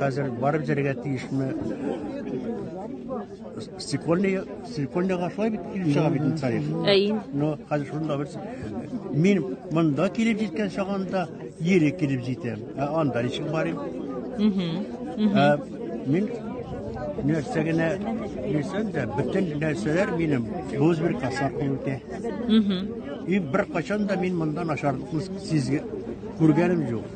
Хәзер барып җәргә тиешме? Стекольный, стекольный гашлай бит килеп чыга бит тарих. Әйе. Но хәзер шунда бер мин монда килеп җиткән чагында ели килеп җитәм. Ә анда ничек барыйм? Угу. Ә мин нәрсә генә дисәм дә, бөтен нәрсәләр минем боз бер касап үтә. Угу. И бер качан да мин монда начарлыкны сизгән күргәнем юк.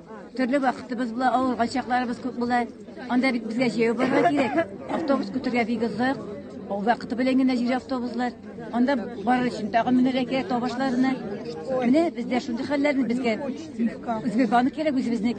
Төрле вакытыбыз була, авырган чакларыбыз күп була. Анда бит безгә җәяү барырга кирәк. Автобус көтергә бик озак. Ул вакыты белән генә җир автобуслар. Анда барыр өчен тагын менәргә кирәк табашларына. Менә бездә шундый хәлләрне безгә үзгә банк кирәк үзебезнең.